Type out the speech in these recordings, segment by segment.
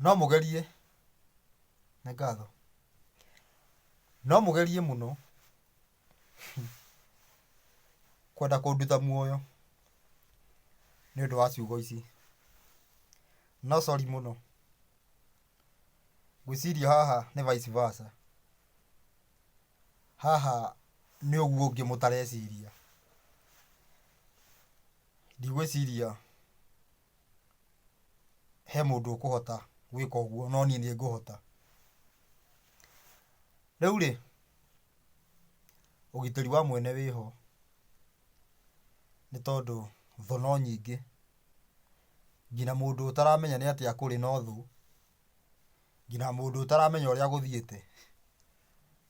No mũgerie, nĩ ngatho. No mũgerie mũno kwenda kũnduta muoyo nĩ ũndũ wa ciugo ici. No sorry mũno. Ngwĩciria haha nĩ vice versa. Haha nĩ ũguo ũngĩ mũtareciria. Ndigwĩciria he mũndũ ũkũhota gwĩka ũguo no niĩ nĩ ngũhota. Rĩu rĩ, ũgitĩri wa mwene wĩ ho nĩ tondũ thũ no nyingĩ. Nginya mũndũ ũtaramenya nĩ atĩa kũrĩ no thũ, nginya mũndũ ũtaramenya ũrĩa gũthiĩte.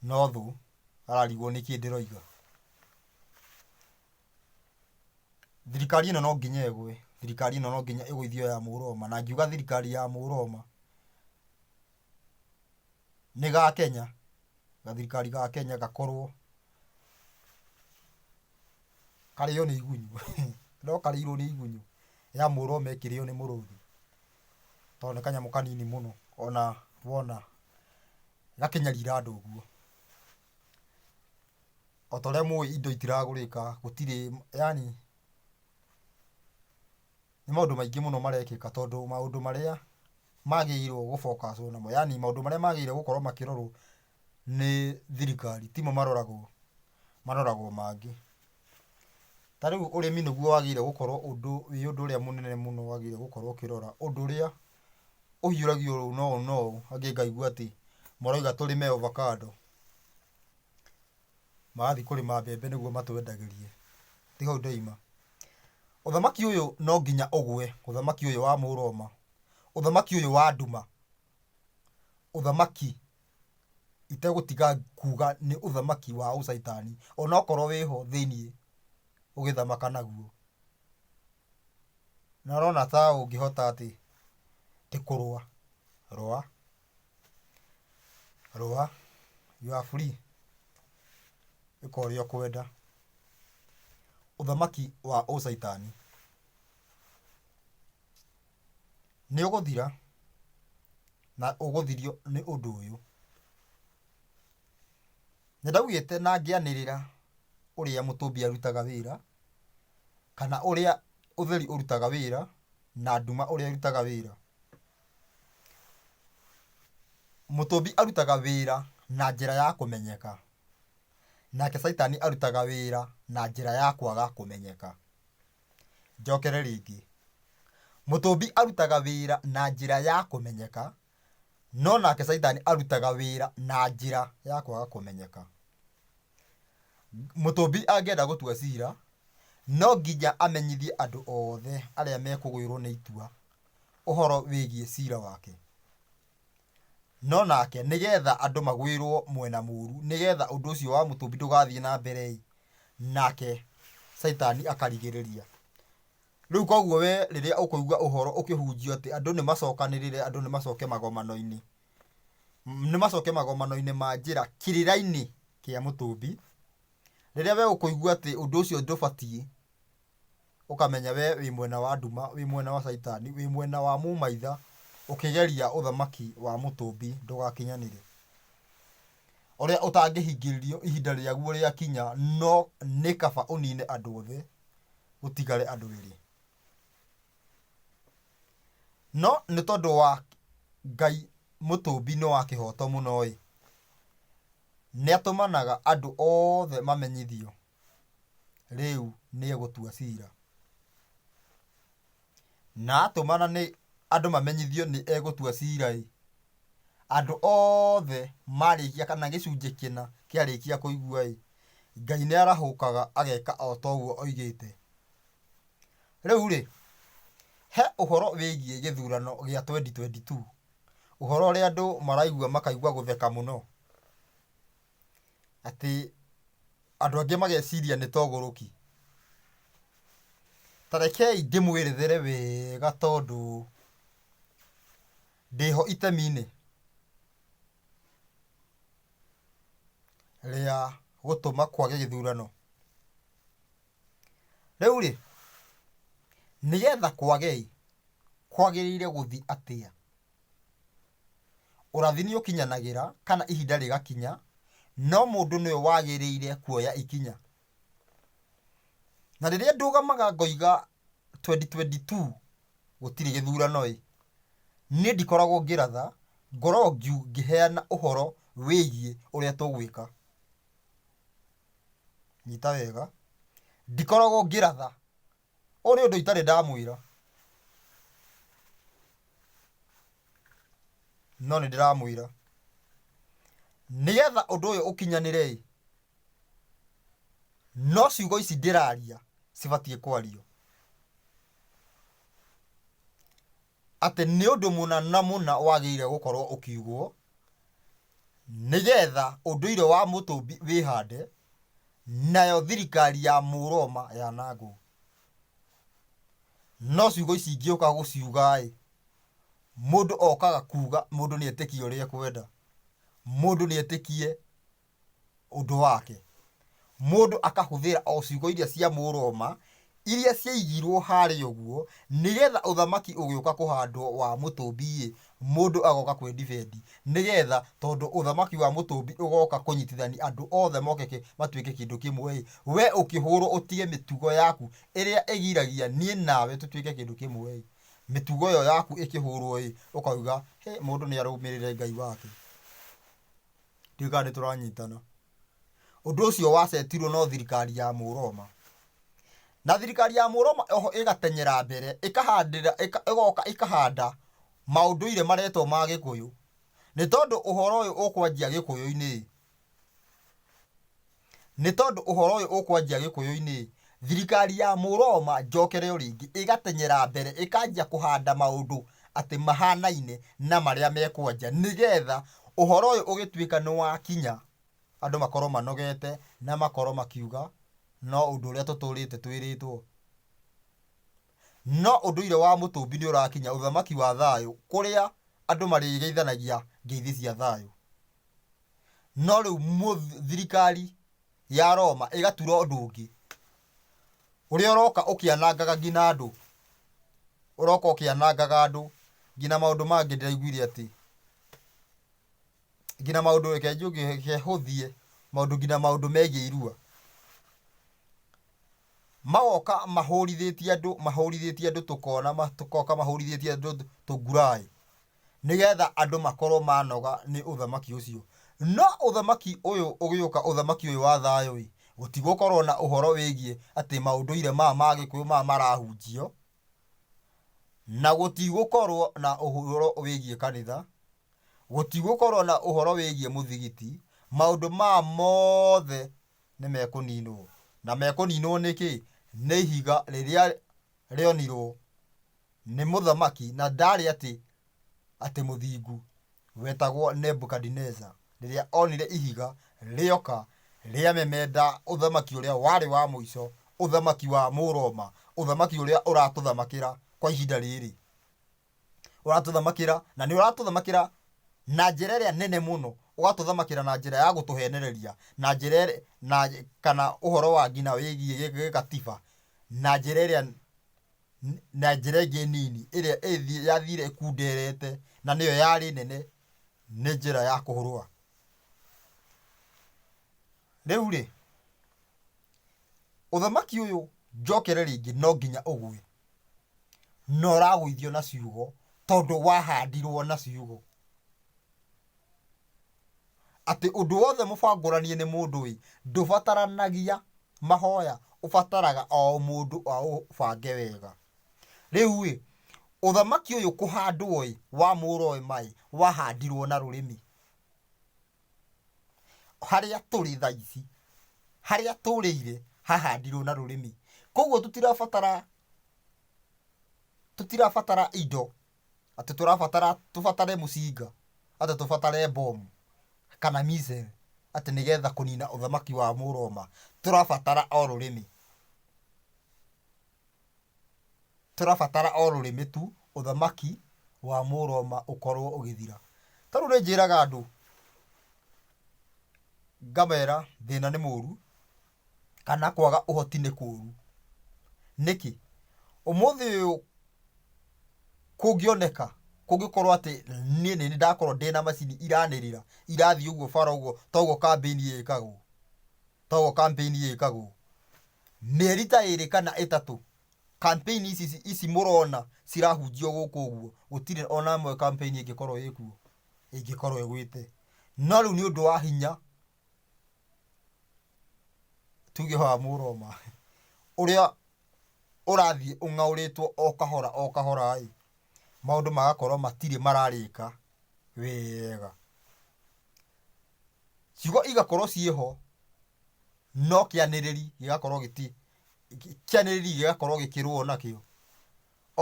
No thũ ararigwo nĩkĩ ndĩroiga. Thirikari ĩno no nginya ĩgwe, thirikari ĩno no nginya ĩgũithio ya mũrũgoma, na ngiuga thirikari ya mũrũgoma nĩ ga Kenya, gathirikari ga Kenya gakorwo karĩo nĩ igunyũ, no karĩirwo nĩ igunyũ ya mũrũgoma ĩkĩrĩo nĩ mũrũthi. tondũ nĩ kanyamũ kanini mũno ona wona gakĩnyarira andũ ũguo. Ota ũrĩa mũĩ indo itiragũrĩka, gũtirĩ yaani nĩ maũndũ maingĩ mũno marekĩka tondũ maũndũ marĩa magĩrĩirwo gũ focuswo namo yaani maũndũ marĩa magĩrĩirwo gũkorwo makĩrorwo. nĩ thirikari, timo maroragwo, maroragwo mangĩ. Ta rĩu ũrĩmi nĩguo wagĩrĩire gũkorwo ũndũ wĩ ũndũ ũrĩa mũnene mũno wagĩrĩire gũkorwo ũkĩrora, ũndũ ũrĩa ũhiũragio ũũ na ũũ na ũũ, angĩ ngaigua atĩ marauga tũrĩme ovacado, magathiĩ kũrĩma mbembe nĩguo matwendagĩrie, ti hau ndaima. Ũthamaki ũyũ no nginya ũgwe, ũthamaki ũyũ wa mũrũ ũma, ũthamaki ũyũ wa nduma. ũthamaki itegũtiga kuuga nĩ ũthamaki wa ũcaitani onokorwo wĩho thĩiniĩ ũgĩthamaka naguo. Na ũrona ta ũngĩhota atĩ atĩ kũrũa, rũa, rũa, you are free, ĩka ũrĩa ũkwenda. Ũthamaki wa ũcaitani. Nĩ ũgũthira, na ũgũthirio nĩ ũndũ ũyũ. Nĩ ndaugĩte na ngĩanĩrĩra ũrĩa mũtũmbi arutaga wĩra, kana ũrĩa ũtheri ũrutaga wĩra, na nduma ũrĩa ĩrutaga wĩra. Mũtũmbi arutaga wĩra na njĩra ya kũmenyeka, nake caitani arutaga wĩra na njĩra ya kwaga kũmenyeka. Njokere rĩngĩ. Mũtũmbi arutaga wĩra na njĩra ya kũmenyeka, no nake caitani arutaga wĩra na njĩra ya kwaga kũmenyeka. Mũtũmbi angĩenda gũtua cira, no nginya amenyithie andũ othe arĩa mekũgwĩrwo nĩ itua ũhoro wĩgiĩ cira wake. No nake nĩgetha andũ magwĩrwo mwena mũru, nĩgetha ũndũ ũcio wa mũtũmbi ndũgathiĩ na mbere-ĩ. nake caitani akarigĩrĩria. Rĩu koguo we rĩrĩa ũkũigua ũhoro ũkĩhunjio atĩ andũ nĩ macokanĩrĩre, andũ nĩ macoke magomano-inĩ, nĩ macoke magomano-inĩ ma njĩra kĩrĩra-inĩ kĩa mũtũmbi, rĩrĩa we ũkũigua atĩ ũndũ ũcio ndũbatiĩ, ũkamenya we wĩ mwena wa nduma, wĩ mwena wa caitani, wĩ mwena wa mũmaitha, ũkĩgeria ũthamaki wa mũtũmbi ndũgakinyanĩre. Ũrĩa ũtangĩhingĩrĩrio ihinda rĩaguo rĩakinya no nĩ kaba ũnine andũ othe gũtigare andũ erĩ. No nĩ tondũ wa Ngai mũtũmbi nĩ wa kĩhoto mũno-ĩ, nĩatũmanaga andũ othe mamenyithio rĩu nĩegũtua cira. Na atũmana nĩ andũ mamenyithio nĩ egũtua cira-ĩ, andũ othe marĩkia kana gĩcunjĩ kĩna kĩarĩkia kũigua-ĩ, Ngai nĩarahũkaga ageka o ta ũguo oigĩte. Rĩu-rĩ, he ũhoro wĩgiĩ gĩthurano gĩa twenty twenty two, ũhoro ũrĩa andũ maraigua makaigua gũtheka mũno. atĩ andũ angĩ mageciria nĩ togũrũki. Ta rekei ndĩmwerethere wega tondũ ndĩho itemi-inĩ rĩa gũtũma kwage gĩthurano. Rĩu rĩ, nĩgetha kwage ĩ, kwagĩrĩire gũthiĩ atĩa? Ũrathi nĩ ũkinyanagĩra kana ihinda rĩgakinya, no mũndũ nĩwe wagĩrĩire kuoya ikinya. Na rĩrĩa ndũgamaga ngoiga twendi twendi tuu gũtirĩ gĩthurano-ĩ, niĩ ndikoragwo ngĩratha, ngoragwo ngĩheana ũhoro wĩgiĩ ũrĩa tũgwĩka. Nyita wega, ndikoragwo ngĩratha Ũũ nĩ ũndũ itarĩ ndamwĩra, no nĩ ndĩramwĩra, nĩ getha ũndũ ũyũ ũkinyanĩre-ĩ, no ciugo ici ndĩraria cibatiĩ kwario. Atĩ nĩ ũndũ mũna na mũna wagĩrĩire gũkorũo ũkiugwo, nĩgetha ũndũire wa Mũtũmbi wĩhande, nayo thirikari ya Mũroma yanangwo. No ciugo ici ingĩũka gũciuga-ĩ, mũndũ okaga kuuga mũndũ nĩetĩkie ũrĩa ekwenda, mũndũ nĩetĩkie. ũndũ wake. Mũndũ akahũthĩra o ciugo iria cia Mũroma iria ciaigirwo harĩa ũguo, nĩgetha ũthamaki ũgĩũka kũhandwo wa mũtũmbi ĩ, mũndũ agoka kwĩ ndibeti, nĩgetha tondũ ũthamaki wa mũtũmbi ũgoka kũnyitithania andũ othe moke kĩ, matuĩke kĩndũ kĩmwe ĩ, we ũkĩhũrwo ũtige mĩtugo yaku ĩrĩa ĩgiragia niĩ nawe tũtuĩke kĩndũ kĩmwe ĩ, mĩtugo ĩyo yaku ĩkĩhũrwo ĩ, ũkauga hĩ mũndũ nĩ arũmĩrĩre Ngai wake. ndiũĩ kana nĩ tũranyitana. Ũndũ ũcio wacetirwo no thirikari ya Mũroma. Na thirikari ya Mũroma oho ĩgatenyera mbere, ĩkahandĩra, ĩka, ĩgoka ĩkahanda maũndũire maretwo ma Gĩkũyũ. Nĩ tondũ ũhoro ũyũ ũkwanjia Gĩkũyũ-inĩ Nĩ tondũ ũhoro ũyũ ũkwanjia Gĩkũyũ-inĩ, thirikari ya Mũroma njokere o rĩngĩ ĩgatenyera mbere ĩkanjia kũhanda maũndũ atĩ mahanaine na marĩa me kwanja nĩ getha ũhoro ũyũ ũgĩtuĩka nĩ wakinya andũ makorwo manogete na makorwo makiuga no ũndũ ũrĩa tũtũrĩte twĩrĩtwo. No ũndũire wa Mũtũmbi nĩ ũrakinya ũthamaki wa thayũ kũrĩa andũ marĩgeithanagia ngeithi cia thayũ. No rĩu thirikari ya Roma ĩgatura ũndũ ũngĩ ũrĩa ũroka ũkĩanangaga nginya andũ, ũroka ũkĩanangaga andũ nginya maũndũ mangĩ ndĩraiguire atĩ, nginya maũndũ reke njuge, reke hũthie, maũndũ nginya maũndũ megiĩ irua. Magoka mahũrithĩtie andũ, mahũrithĩtie andũ tũkona, magoka mahũrithĩtie andũ tũnguraĩ, nĩgetha andũ makorwo manoga nĩ ũthamaki ũcio. No ũthamaki ũyũ ũgĩũka, ũthamaki ũyũ wa thayũ-ĩ, gũtigũkorwo na ũhoro wĩgiĩ atĩ maũndũire maya ma Gĩkũyũ maya marahunjio, na gũtigũkorwo na ũhoro wĩgiĩ kanitha, gũtigũkorwo na ũhoro wĩgiĩ mũthigiti, maũndũ maya mothe nĩ mekũniinwo. Na mekũniinwo nĩkĩ? Nĩ ihiga rĩrĩa rĩonirwo nĩ mũthamaki, na ndaarĩ atĩ atĩ mũthingu, wetagwo Nebukadineza, rĩrĩa onire ihiga rĩoka rĩamemenda ũthamaki ũrĩa warĩ wa mũico, ũthamaki wa Mũroma, ũthamaki ũrĩa ũratũthamakĩra kwa ihinda rĩrĩ. ũratũthamakĩra na nĩ ũratũthamakĩra na njĩra ĩrĩa nene mũno ũgatũthamakĩra na njĩra ya gũtũhenereria na njĩra ĩrĩa- na kana ũhoro wa ngina wĩgiĩ gĩ- gĩgatiba na njĩra ĩrĩa n- na njĩra ĩngĩ nini ĩrĩa ĩthi- yathire ĩkunderete na nĩyo yarĩ nene nĩ njĩra ya kũhũrũa rĩu rĩ ũthamaki ũyũ njokere rĩngĩ no nginya ũgwe na ũragũithio na ciugo tondũ wahandirwo na ciugo atĩ ũndũ wothe mũbangũranie nĩ mũndũ ĩ ndũbataranagia mahoya ũbataraga o mũndũ aũbange wega rĩu ĩ ũthamaki ũyũ kũhandwo ĩ wa mũũra ũyũ maĩ wahandirwo na rũrĩmĩ harĩa tũrĩ thaa ici harĩa tũrĩire hahandirwo na rũrĩmĩ koguo tũtirabatara tũtirabatara indo atĩ tũrabatara tũbatare mũcinga atĩ tũbatare mbomu kana missile atĩ nĩgetha kũnina ũthamaki wa Mũroma tũrabatara o rũrĩmĩ. Tũrabatara o rũrĩmĩ tu ũthamaki wa Mũroma ũkorwo ũgĩthira. Ta rĩu nĩ njĩraga andũ, ngamera thĩna nĩ mũru, kana kwaga ũhoti nĩ kũru. Nĩkĩ? Ũmũthĩ ũyũ kũngĩoneka, kũngĩkorwo atĩ niĩ nĩ niĩ ndakorwo ndĩ na macini iranĩrĩra, irathiĩ ũguo bara ũguo ta ũguo kambĩini ĩkagwo, ta ũguo kambĩini ĩkagwo, Mĩeri ta ĩrĩ kana ĩtatũ campaign ici ici mũrona cirahunjio gũkũ ũguo, gũtirĩ ona ĩmwe campaign ĩngĩkorwo ĩkuo, ĩngĩkorwo ĩgwĩte. No rĩu nĩ ũndũ wa hinya, tuge wa Mũroma, ũrĩa ũrathiĩ ũng'aũrĩtwo o kahora o kahora-ĩ, maũndũ magakorwo matirĩ mararĩka wega. ciugo igakorwo ciĩ ho no kĩanĩrĩri gĩgakorwo gĩti kĩanĩrĩri gĩgakorwo gĩkĩrũo nakĩo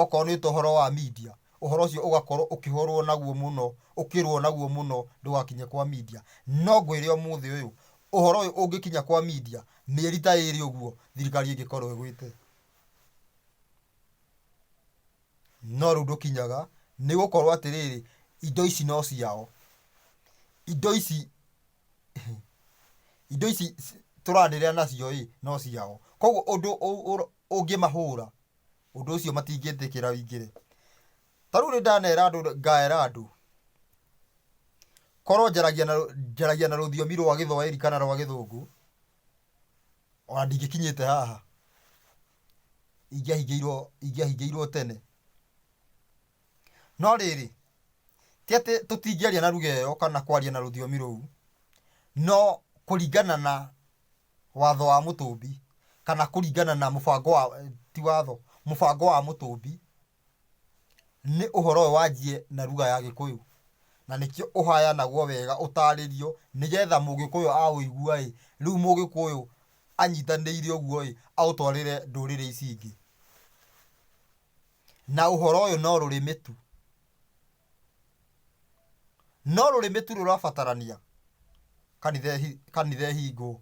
okorwo nĩ ũhoro wa media ũhoro ũcio ũgakorwo ũkĩhũrwo naguo mũno ũkĩrũo naguo mũno ndũgakinye kwa media no ngwĩre ũmũthĩ ũyũ ũhoro ũyũ ũngĩkinya kwa media mĩeri ta ĩrĩ ũguo thirikari ĩngĩkorwo ĩgwĩte. No rĩu ndũkinyaga, nĩ gũkorwo atĩrĩrĩ, indo ici no ciao. Indo ici, indo ici tũranĩrĩra nacio ĩ, no ciao. Koguo ũndũ ũngĩmahũra, ũndũ ũcio matingĩtĩkĩra wingĩre. Ta rĩu nĩ ndanera andũ ngera andũ, korwo njaragia na njaragia na rũthiomi rwa gĩthwaĩri kana rwa gĩthũngũ, ona ndingĩkinyĩte haha. ingĩahingĩirwo ingĩahingĩirwo tene. No rĩrĩ, ti atĩ tũtingĩaria na lugha ĩyo kana kwaria na rũthiomi rũu, no kũringana na watho wa mũtũmbi, kana kũringana na mũbango wa ti watho, mũbango wa mũtũmbi. Nĩ ũhoro ũyũ wanjiĩ na ruga ya gĩkũyũ, na nĩkĩo ũhayanagwo wega ũtarĩrio, nĩgetha mũgĩkũyũ aũigua-ĩ, rĩu mũgĩkũyũ anyitanĩire ũguo-ĩ, aũtwarĩre ndũrĩrĩ ici ingĩ. Na ũhoro ũyũ no rũrĩmĩ tu. No rũrĩmĩ tu rũrabatarania kanitha ĩhi- kanitha ĩhingwo.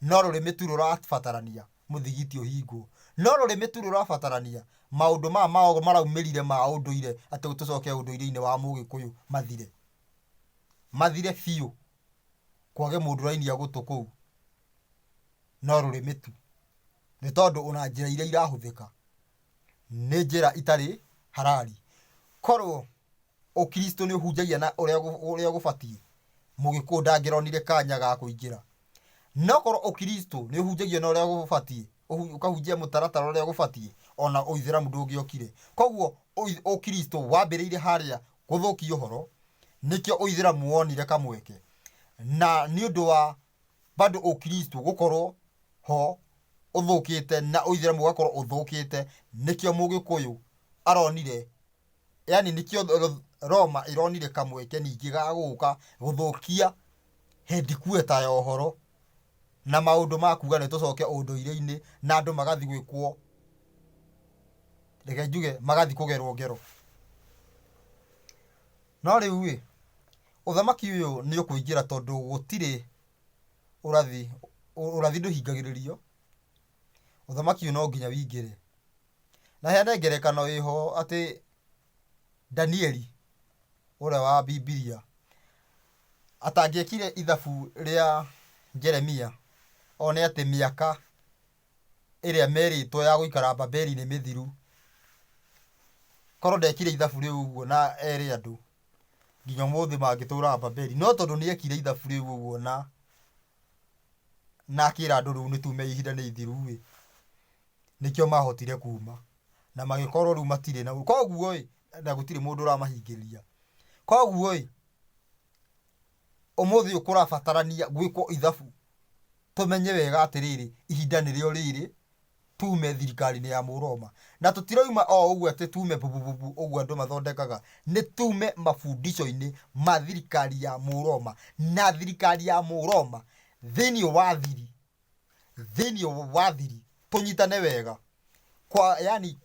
No rũrĩmĩ tu rũrabatarania mũthigiti ũhingwo. No rũrĩmĩ tu rũrabatarania maũndũ maya mao maraumĩrire ma ũndũire atĩ tũcoke ũndũire-inĩ wa mũgĩkũyũ mathire. Mathire biũ. Kwage mũndũ ũrainia gũtũ kũu. No rũrĩmĩ tu. Nĩ tondũ ona njĩra iria irahũthĩka. nĩ njĩra itarĩ harari. Korwo ũkristo nĩ ũhunjagia na ũrĩa gũ- ũrĩa gũbatiĩ, mũgĩkũũ ndangĩronire kanya ga kũingĩra. No korwo ũkristo nĩ ũhunjagia na ũrĩa gũbatiĩ, ũhu- ũkahunjia mũtaratara ũrĩa gũbatiĩ, ona ũithĩramu ndũngĩokire. Koguo ũi- ũkristo wambĩrĩire harĩa gũthũkia ũhoro, nĩkĩo ũithĩramu wonire kamweke. Na nĩ ũndũ wa bado ũkristo gũkorwo ho ũthũkĩte na ũithĩramu ũgakorwo ũthũkĩte nĩkĩo mũgĩkũyũ aronire yani nĩkĩo th- roma ĩronire kamweke ningĩ ga gũka gũthũkia hendikueta ya ũhoro na maũndũ ma kuga nĩ tũcoke ũndũire-inĩ na andũ magathi gwĩkwo reke njuge magathi kũgerwo ngero no rĩu ĩ Ũthamaki ũyũ nĩũkũingĩra tondũ gũtirĩ ũrathi, ũrathi ndũhingagĩrĩrio, ũthamaki ũyũ no nginya wĩingĩre. Na heane ngerekano ĩho atĩ Danieli ũrĩa wa Bibilia atangĩekire ithabu rĩa Jeremia one atĩ mĩaka ĩrĩa merĩtwo ya gũikara Babeli nĩ mĩthiru, korwo ndekire ithabu rĩu ũguo na ere andũ. nginya ũmũthĩ mangĩtũũraga Babeli. No tondũ nĩ ekire ithabu rĩu ũguo na na akĩra andũ rĩu nĩtume ihinda nĩ ithiru ĩ, nĩkĩo mahotire kuma na magĩkorwo rĩu matirĩ na koguo ĩ, na gũtirĩ mũndũ ũramahingĩrĩria. Koguo ĩ, ũmũthĩ ũyũ kũrabatarania gwĩkwo ithabu tũmenye wega atĩrĩrĩ, ihinda nĩrĩo rĩrĩ tuume thirikari-inĩ ya Mũroma. Na tũtiroima o ũguo atĩ tuume bubububu ũguo andũ mathondekaga, nĩ tuume mabundisho-inĩ ma thirikari ya Mũroma. Na thirikari ya Mũroma thĩinĩ wa thiri, thĩinĩ wa thiri tũnyitane wega, kwa yani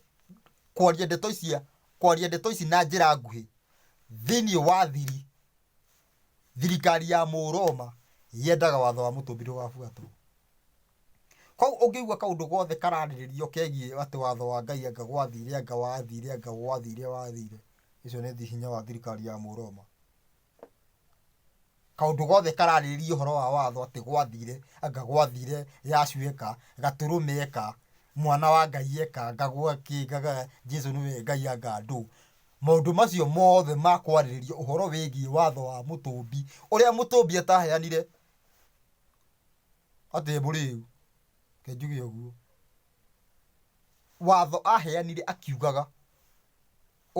kwaria ndeto ici, kwaria ndeto ici na njĩra nguhĩ, thĩinĩ wa thiri. thirikari ya mũroma yendaga watho wa mũtũmbi ndũgabuatwo koguo ũngĩigua kaũndũ gothe kararĩrĩrio kegiĩ atĩ watho wa ngai anga gwathire anga wathire anga gwathire wathire ũcio nĩ thi- hinya wa thirikari ya mũroma kaũndũ gothe kararĩrĩria ũhoro wa watho atĩ gwathire anga gwathire yacu eka gatũrũme eka mwana wa ngai eka ngagwa kĩ ngaga jesu nĩwe ngai anga andũ Maũndũ macio mothe ma kwarĩrĩria ũhoro wĩgiĩ watho wa Mũtũũmbi ũrĩa Mũtũũmbi ataaheanire atĩ e mũrĩĩu, reke njuge ũguo, watho aaheanire akiugaga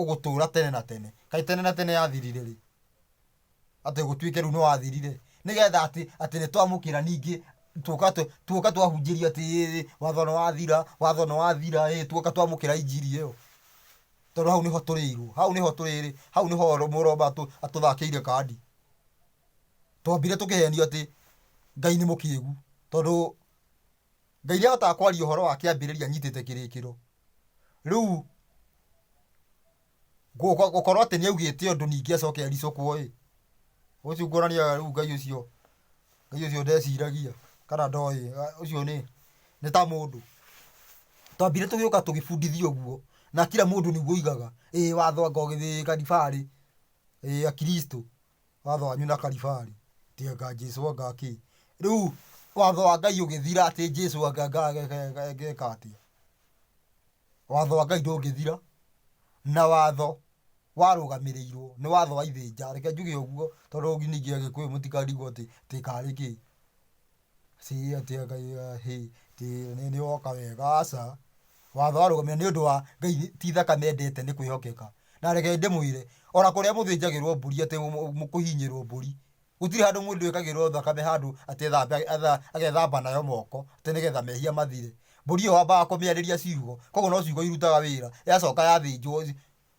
ũgũtũũra tene na tene. Kaĩ tene na tene yathirire rĩ? atĩ gũtuĩke rĩu nĩwathirire nĩgetha atĩ atĩ nĩtwamũkĩra ningĩ tuoka tũ- tuoka twahunjĩria atĩ "Ĩĩ, watho nĩwathira watho nĩwathira ĩĩ, tuoka twamũkĩra injiri ĩyo tondũ hau nĩho tũrĩirwo hau nĩho tũrĩrĩ hau nĩho ro- mũromba atũ- atũthakĩire kandi twambire tũkĩhenio atĩ ngai nĩ mũkĩgu tondũ Ngai nĩahotaga kwaria ũhoro wa kĩambĩrĩria anyitĩte kĩrĩkĩro. Rĩu gũkorwo atĩ nĩaugĩte ũndũ ningĩ acoke aricũkwo-ĩ, ũcio kuonania rĩu Ngai ũcio, Ngai ũcio ndeciragia kana ndoĩ, ũcio nĩ, nĩ ta mũndũ. Twambire tũgĩũka tũgĩbundithio ũguo, na kira mũndũ nĩguo augaga, ĩĩ watho anga ũgĩthĩĩka thibarĩ, ĩĩ Akiristo. watho wanyu na karibarĩ ti anga Jesu anga kĩ rĩu watho wa Ngai ũgĩthira atĩ Jesu anga ngeka atĩa watho wa Ngai ndũngĩthira na watho warũgamĩrĩirwo nĩ watho wa ithĩnja reke njuge ũguo tondũ ningĩ agĩkũyũ mũtikarigwo atĩ karĩ kĩ. si atĩ ngai ya hĩ ti nĩ nĩ woka wega aca watho warũgamio nĩ ũndũ wa ngai ti thaka mendete nĩ kwĩhokeka na reke ndĩmwĩre ona kũrĩa mũthĩnjagĩrwo mbũri atĩ mũ- mũ- kũhinyĩrwo mbũri gũtirĩ handũ mũndũ ekagĩrwo thakame handũ atĩ thambe atha- agethamba nayo moko atĩ nĩgetha mehia mathire mbũri ĩyo wambaga kũmĩarĩria ciugo koguo no ciugo irutaga wĩra yacoka yathĩnjwo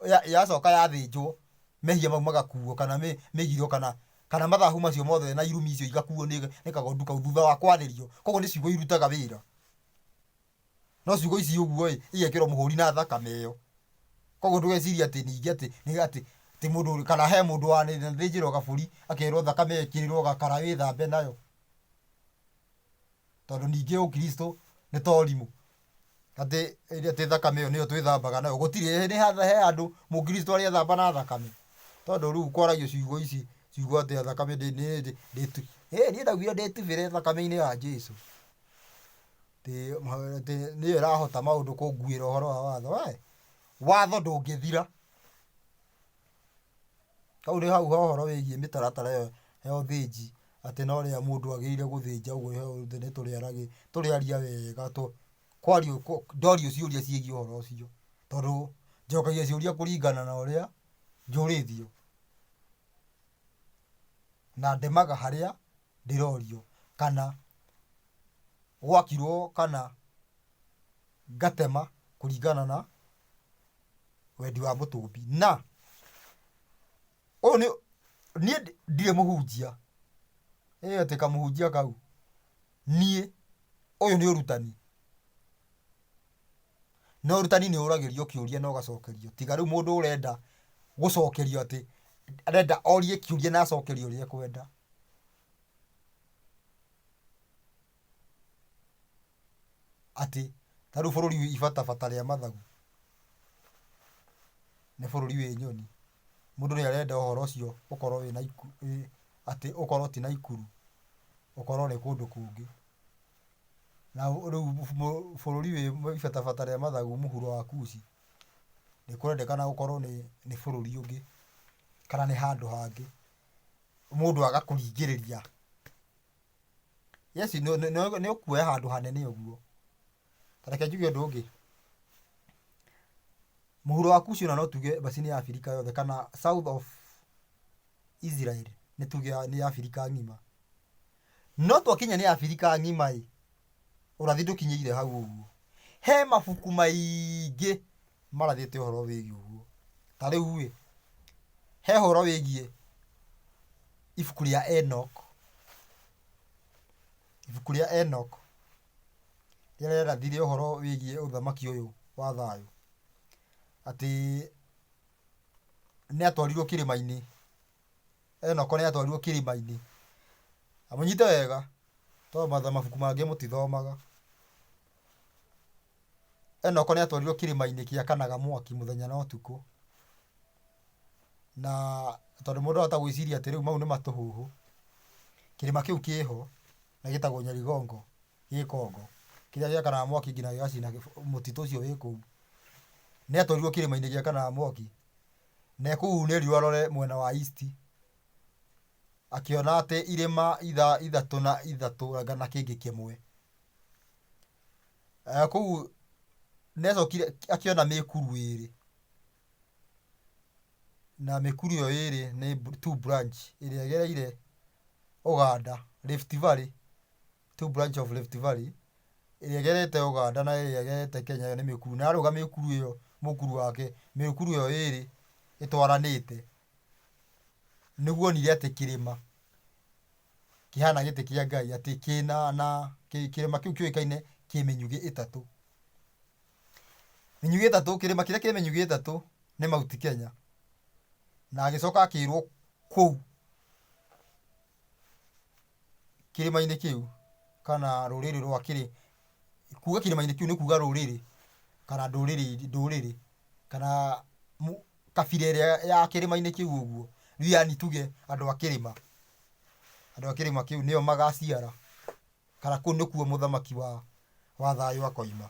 ya- yacoka yathĩnjwo mehia mau magakuo kana mĩ- mĩgiro kana kana mathahu macio mothe na irumi icio igakuo nĩ nĩ kagondu kau thutha wa kwarĩrio koguo nĩ ciugo irutaga wĩra no ciugo ici ũguo ĩ igekĩrwo mũhũri na thakame ĩyo koguo ndũgeciria atĩ ningĩ atĩ nĩ atĩ atĩ mũndũ ũrĩ- kana he mũndũ wanĩthĩnjĩrwo gabũri akerwo thakame ĩkĩrĩrwo gakara wĩthambe nayo tondũ ningĩ ũkristo nĩ ta ũrimũ, atĩ atĩ thakame ĩyo nĩyo twĩthambaga nayo, gũtirĩ he handũ mũkristo arethamba na thakame, tondũ rĩu kwaragio ciugo ici, ciugo atĩ thakame ndĩ nĩ ndĩ ndĩtu ĩ niĩ ndaugire ndĩtubĩre thakame-inĩ ya Jesũ, atĩ atĩ nĩyo ĩrahota maũndũ kũnguĩra ũhoro wa watho, we watho ndũngĩthira. Hau nĩ hau he ũhoro wĩgiĩ mĩtaratara ĩyo ya ũthĩnji, atĩ no rĩrĩa mũndũ agĩrĩire gũthĩnja ũguo he ũndũ nĩtũrĩaragĩria, tũrĩaria wega tũ, kwario kũ, ndorio ciũria ciĩgiĩ ũhoro ũcio, tondũ njokagia ciũria kũringana na ũrĩa njũrĩtio, na ndemaga harĩa ndĩrorio, kana gwakirwo kana ngatema kũringana na. wendi wa mũtũmbi na ũyũ nĩ niĩ ndi- ndirĩ mũhunjia ĩĩ atĩ kamũhunjia kau niĩ ũyũ nĩ ũrutani na ũrutani nĩ ũragĩrio kĩũria na ũgacokerio tiga rĩu mũndũ ũrenda gũcokerio atĩ arenda orie kĩũria na acokerio ũrĩa ekwenda Atĩ ta rĩu bũrũri wĩ ibata bata rĩa mathagu, nĩ bũrũri wĩ nyoni. Mũndũ nĩ arenda ũhoro ũcio ũkorwo wĩ Naikuru, atĩ ũkorwo ti Naikuru, ũkorwo nĩ kũndũ kũngĩ. Na rĩu bũrũri wĩ ibata bata rĩa mathagu mũhuro wa Kuci, nĩ kũrendekana ũkorwo nĩ nĩ bũrũri ũngĩ, kana nĩ handũ hangĩ, mũndũ agakũringĩrĩria. Yes, nĩ- nĩ- nĩ- nĩũkuoya handũ hanene ũguo ta reke njuge ũndũ ũngĩ mũhuro wa kushi ona no tuge macini ya abirika yothe kana south of israel nĩ tuge ya- nĩ ya abirika ng'ima no twakinya nĩ abirika ng'ima ĩ ũrathi ndũkinyĩire hau ũguo he mabuku maingĩ marathĩte ũhoro wĩgiĩ ũguo. Ta rĩu-ĩ, he ũhoro wĩgiĩ ibuku rĩa Enoch, ibuku rĩa Enoch rĩrĩa rĩarathire ũhoro wĩgiĩ ũthamaki ũyũ wa thayũ, atĩ nĩatwarirwo kĩrĩma-inĩ, Enoch nĩatwarirwo kĩrĩma-inĩ. Na mũnyite wega, tondũ mabuku mangĩ mũtithomaga. Enoko nĩ atwarirwo kĩrĩma-inĩ kĩakanaga mwaki mũthenya na ũtukũ, na tondũ mũndũ arahota gwĩciria atĩ rĩu mau nĩ matũhũhũ, kĩrĩma kĩu kĩ ho na gĩtagwo Nyarigongo gĩ Congo, kĩrĩa gĩakanaga mwaki nginya gĩgacina mũtitũ ũcio wĩ kũu. Nĩ atwarirwo kĩrĩma-inĩ gĩakanaga mwaki, na e kũu nĩ erirwo arore mwena wa east, akĩona atĩ irĩma ithatũ na ithatũ anga na kĩngĩ kĩmwe. kũu nĩacokire akĩona mĩkuru ĩrĩ na mĩkuru ĩyo ĩrĩ nĩ two branch ĩrĩa ĩgereire Uganda, Rift Valley, two branch of Rift Valley ĩrĩa ĩgerete Uganda na ĩrĩa ĩgerete Kenya ĩyo nĩ mĩkuru na arũga mĩkuru ĩyo mũkuru wake mĩkuru ĩyo ĩrĩ ĩtwaranĩte nĩguo onire atĩ kĩrĩma kĩhana gĩtĩ kĩa Ngai atĩ kĩna na kĩ- kĩrĩma kĩu kĩũĩkaine kĩ mĩnyugĩ ĩtatũ. Mĩnyugĩ ĩtatũ, kĩrĩma kĩrĩa kĩ mĩnyugĩ ĩtatũ nĩ Mount Kenya. Na agĩcoka akĩrwo kũu kĩrĩma-inĩ kĩu kana rũrĩrĩ rwa kĩrĩ, kuga kĩrĩma-inĩ kĩu nĩ kuga rũrĩrĩ kana ndũrĩrĩ ndũrĩrĩ kana mu- kabira ĩrĩa ya kĩrĩma-inĩ kĩu ũguo, rĩu yani tuge andũ a kĩrĩma, andũ a kĩrĩma kĩu nĩo magaciara, kana kũu nĩkuo mũthamaki wa, wa thayũ akoima,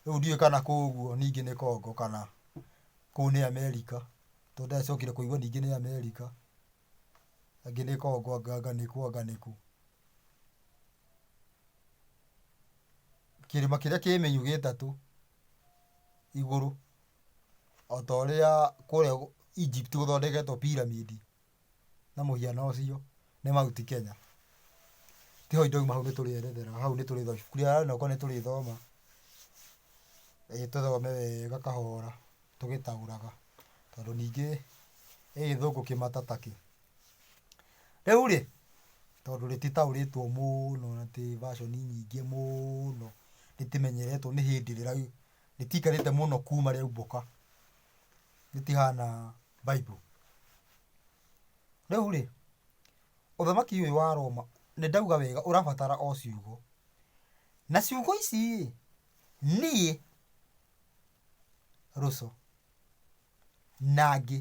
rĩu ndiũĩ kana kũu ũguo ningĩ nĩ Congo kana kũu nĩ Amerika, to ndĩracokire kũigua ningĩ nĩ Amerika, angĩ nĩ Congo anga anga nĩ kũ anga nĩ kũ. Kĩrĩma kĩrĩa kĩ menyu gĩtatũ igũrũ. o ta ũrĩa kũrĩa Egypt gũthondeketwo pyramid na mũhiano ũcio nĩ Mount Kenya. Ti hau ndauma hau nĩ tũrĩerethera hau nĩ tũrĩthoma ibuku rĩa hau nĩ tũrĩthoma ĩĩ tũthome wega kahora tũgĩtaũraga tondũ ningĩ ĩ gĩthũngũ kĩmata ta kĩ. Rĩu rĩ, tondũ rĩtitaũrĩtwo mũno na ti version nyingĩ mũno rĩtimenyeretwo nĩ hĩndĩ rĩraiyũka. Rĩtiikarĩte mũno kuuma rĩaumbũka. Rĩtihaana Bible. Rĩu rĩ, ũthamaki ũyũ wa Roma, nĩ ndauga wega ũrabatara o ciugo. Na ciugo ici ĩ, niĩ Russo na angĩ,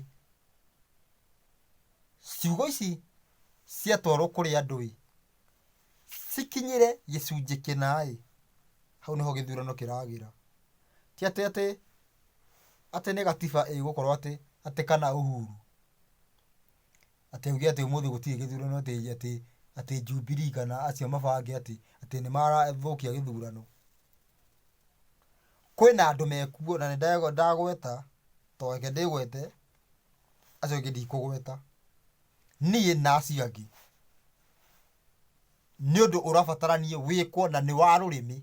ciugo ici ciatwarwo kũrĩ andũ ĩ, cikinyĩre gĩcunjĩ kĩna-ĩ, hau nĩho gĩthurano kĩragĩra. Ti atĩ atĩ atĩ nĩ gatiba ĩgũkorwo atĩ atĩ kana Uhuru atĩ auge atĩ ũmũthĩ gũtirĩ gĩthurano atĩ atĩ atĩ Jubilee kana acio mabange atĩ atĩ nĩmarathũkia gĩthurano. Kwĩna andũ mekuo na nĩndagweta, to reke ndĩgwete, acio angĩ ndikũgweta niĩ na acio angĩ nĩ ũndũ ũrabataranie wĩkwo na nĩ wa rũrĩmĩ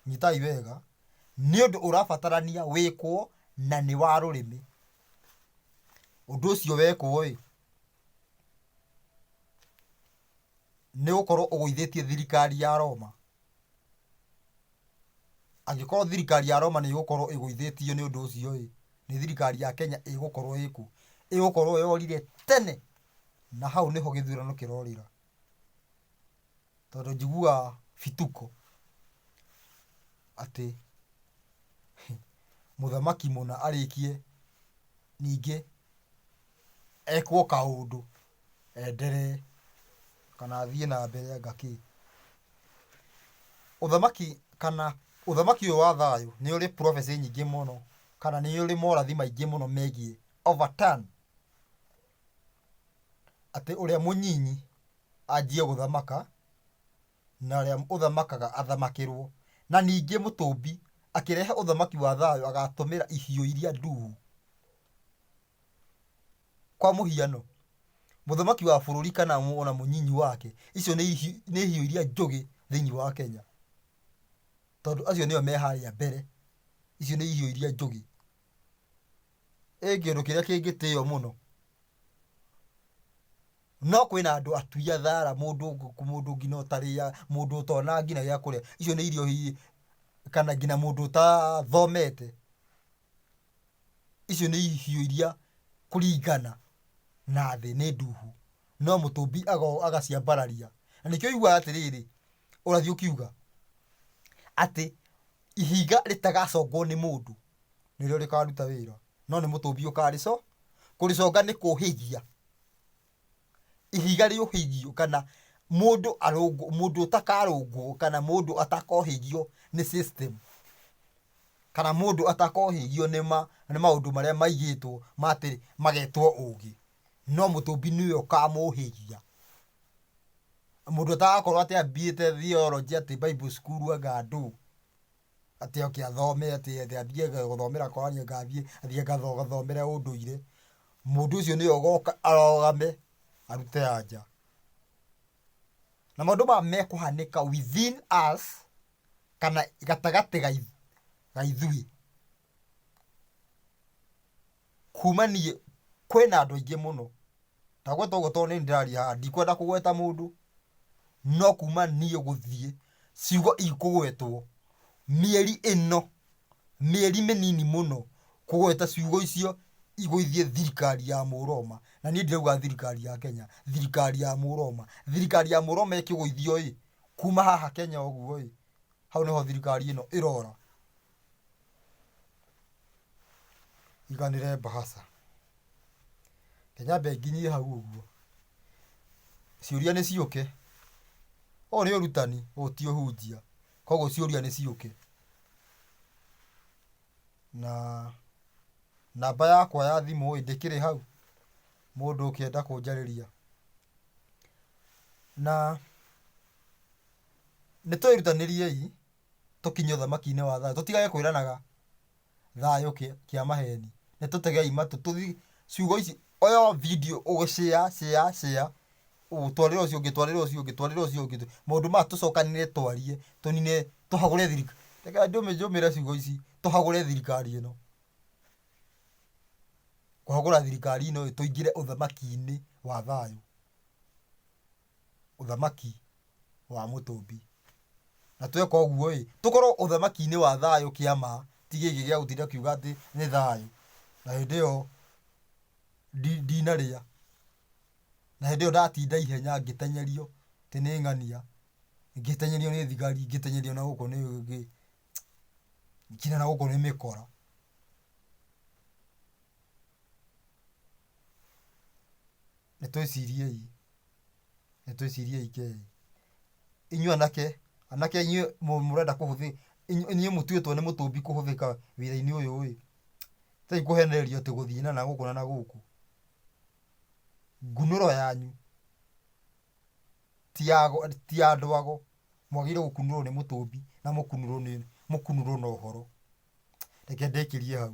nyitai wega nĩ ũndũ ũrabatarania wĩkwo na nĩ wa rũrĩmĩ ũndũ ũcio wekwo ĩ nĩ gũkorwo ũgũithĩtie thirikari ya Roma Angĩkorwo thirikari ya Roma nĩ ĩgũkorwo ĩgũithĩtio nĩ ũndũ ũcio-ĩ, nĩ thirikari ya Kenya ĩgũkorwo ĩkũ? Ĩgũkorwo yorire tene, na hau nĩho gĩthurano kĩrorĩra, tondũ njiguaga bituko atĩ mũthamaki mũna arĩkie ningĩ. ekwo kaũndũ enderee kana athiĩ na mbere anga kĩ. Ũthamaki kana ũthamaki ũyũ wa thayũ nĩ ũrĩ prophecy nyingĩ mũno kana nĩ ũrĩ morathi maingĩ mũno megiĩ overturn atĩ ũrĩa mũnyinyi anjie gũthamaka na ũrĩa ũthamakaga athamakĩrwo. Na ningĩ mũtũmbi akĩrehe ũthamaki wa thayũ agatũmĩra ihiũ iria nduu. Kwa mũhiano, mũthamaki wa bũrũri kana o na mũnyinyi wake, icio nĩ nĩ hiũ iria njũgĩ thĩiniĩ wa Kenya, tondũ acio nĩo me harĩa mbere, icio nĩ hiũ iria njũgĩ. Ĩĩ kĩndũ kĩrĩa kĩngĩtĩo mũno, no kwĩna andũ atui a thara, mũndũ mũndũ nginya ũtarĩa, mũndũ ũtonaga nginya gĩa kũrĩa, icio nĩ irio hihi kana nginya mũndũ ũtathomete. icio nĩ ihiũ iria kũringana na thĩ nĩ ndungu, no mũtũmbi agoka agaciambararia. Na nĩkĩo ũiguaga atĩrĩrĩ, ũrathiĩ ũkiuga atĩ ihiga rĩtagacongwo nĩ mũndũ nĩrĩo rĩkaruta wĩra, no nĩ mũtũmbi ũkarĩconga. Kũrĩconga nĩ kũhĩhia. ihiga rĩũhĩgio kana mũndũ arũngwo, mũndũ ũtakarũngwo kana mũndũ atakohĩgio nĩ system, kana mũndũ atakohĩgio nĩ ma, nĩ maũndũ marĩa maigĩtwo ma atĩ magetwo ũgĩ, no mũthũmbi nĩwe ũkamũhĩgia. Mũndũ ũtarakorwo atĩ athiĩte theology atĩ bible school anga ndũ. atĩ oke athome atĩ atĩ athiĩ ga- gũthomera korani ngathiĩ athiĩ gatho- gathomere ũndũire mũndũ ũcio nĩwe ũgoka arogame arute anja na maũndũ maya mekũhanĩka within us kana gatagatĩ gai- ga ithuĩ Kuma niĩ kwĩna andũ aingĩ mũno, ndagweta ũguo tondũ nĩ niĩ ndĩraria haha, ndikwenda kũgweta mũndũ, no kuma niĩ gũthiĩ, ciugo ikũgwetwo, mĩeri ĩno, mĩeri mĩnini mũno, kũgweta ciugo icio igũithie thirikari ya Mũroma, na niĩ ndirauga thirikari ya Kenya, thirikari ya Mũroma. Thirikari ya Mũroma ĩkĩgũithio-ĩ, kuma haha Kenya ũguo-ĩ, hau nĩho thirikari ĩno ĩrora. iganĩre mbahaca. Reke nyambe nginyie hau ũguo. Ciũria nĩ ciũke. Ũyũ nĩ ũrutani, ũyũ ti ũhunjia. Kwoguo ciũria nĩ ciũke. Na namba yakwa ya thimũ ĩĩ, ndĩkĩrĩ hau? Mũndũ ũkĩenda kũnjarĩria. Na nĩ twĩrutanĩriei. tũkinye ũthamaki-inĩ wa thayũ. Tũtigage kwĩranaga thayũ kĩa maheni. Nĩ tũtegei matũ tũthiĩ ciugo ici oyo video ũgĩ share share share ũtwarĩre ũcio ũngĩ twarĩre ũcio ũngĩ twarĩre ũcio ũngĩ. Maũndũ maya tũcokanĩrĩre twarie tũnine tũhagũre thirikari. Reke njũmĩre ciugo ici tũhagũre thirikari ĩno. Kũhagũra thirikari ĩno ĩĩ tũingĩre ũthamaki-inĩ wa thayũ. ũthamaki wa Mũtũmbi. Na tweka ũguo-ĩ, tũkorwo ũthamaki-inĩ wa thayũ kĩa ma, ti gĩkĩ gĩa gũtinda kiuga atĩ nĩ thayũ, na hĩndĩ ĩyo ndinarĩa, na hĩndĩ ĩyo ndatinda ihenya ngĩtenyerio atĩ nĩ ng'ania, ngĩtenyerio nĩ thigari, ngĩtenyerio na gũkũ nĩ gĩ, nginya na gũkũ nĩ mĩkora. nĩ twĩciriei, nĩ twĩciriei ke. Inyuĩ anake, anake inyuĩ mũrenda kũhũthĩka, inyuĩ mũtuĩtwo nĩ mũtũmbi kũhũthĩka wĩra-inĩ ũyũ ĩ, tigai kũhenererio atĩ gũthiĩ na nagũkũ na nagũkũ. Ngunũro yanyu ti ya ti ya andũ ago, mwagĩrĩirwo gũkunũrwo nĩ mũtũmbi na mũkunũrwo nĩ mũkunũrwo na ũhoro. Reke ndĩkĩrie hau.